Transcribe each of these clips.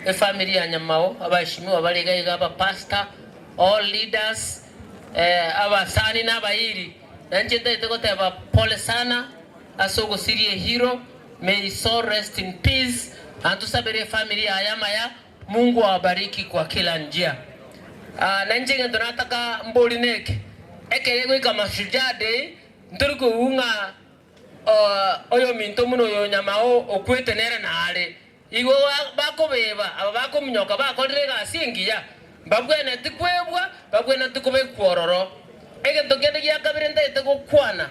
Efamiri ya Nyamao, abaishimiwa bare iga iga, abapasta, all leaders, abasani na abairi. Na inche ntagete goteba pole sana ase ogosiria ehiro, may his soul rest in peace, na tusabere efamiri yaye amaya, Mungu awabariki kwa kila njia. Na inche egento nataka mbori neke, ekero egoika Mashujaa day, ntori koigwa ng'a oyominto buna oyo Nyamao okwete nere nare. Igo bakobeba aba bakominyoka bakorire egasi engiya, mbagwenereti kwebwa, mbagwenereti kobekwa ororo. Egento kende gia kabere ntagete gokwana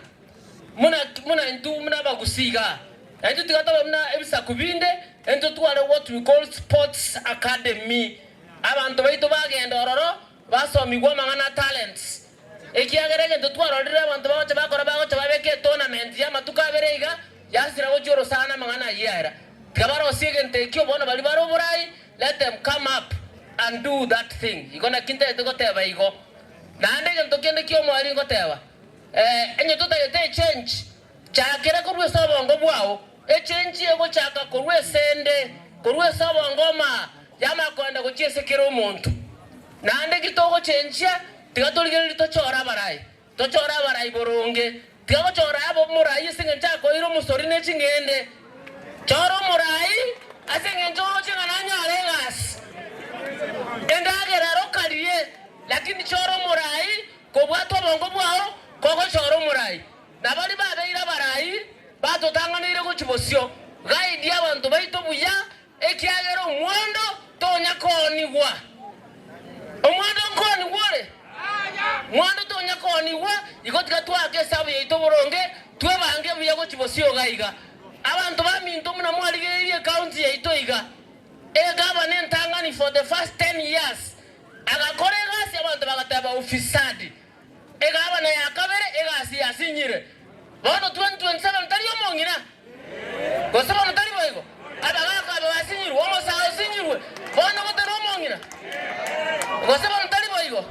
buna buna intwe buna abagusii iga, na intwe tiga tobe buna ebisaku binde, intwe tware what we call sports academy, abanto baito bagenda ororo Basomigwe amang'ana a talents, ekiagera egento twarorire abanto bagocha bakora bagocha babeka etournament y'amatuko abere iga yasira gochia orosana amang'ana ayio yaera. Tiga barosie egento ekio bono baria bare oborai let them come up and do that thing igo naki ntagete goteba igo. Naende egento kende ki'omoerio ngoteba, eh, onye totagete echange Chakera korwa ase obongo bwao, echenchie gochaka korwa ase 'nde, korwa ase obongo omaa yamaya kogenda gochia ase kera omonto. Naende ki togochenchia, tiga torigererie tochore abarai, tochore abarai boronge. Tiga gochora abo omorai ase engencho akoeire omosori ne ching'ende. Chora omorai ase engencho oroche ng'a nanyare egasi, endagera ero karie, lakini chora omorai kobwata obongo bwao kogochora omorai. Na baria babeire abarai batotang'aneire gochia bosio, Gaidie abanto baito buya, ekiagera omwando tonya koonigwa. Omwando nkoonigwa ore? Mwando tonya koonigwa, igo tiga twaake esabu yaito boronge, twebange buya gochia bosio iga iga. Abanto baminto buna mwarigereiri ecounty yaito iga, egavana entang'ani for the first ten years agakora egasi abanto bagateba ufisadi. Egabana ya kabere egasi yasinyire. Bono 2027 tari omong'ina? Gose bono tari boigo? Abagaaka aba basinyirwe, omosaa osinyirwe bono gotari omong'ina? Gose bono tari boigo?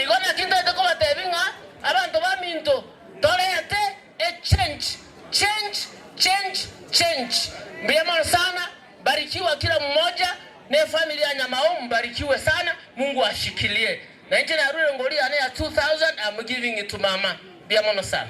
Igo naki ntaete kobateebia ng'a abanto baminto toreete echenchi, chenchi, chenchi, chenchi. Mbuya mono sana, barikiwa kila mmoja, ne family ya Nyamao mbarikiwe sana, Mungu ashikilie. Na inche narure ngori yane ya two thousand am giving it to mama. Mbuya mono sana.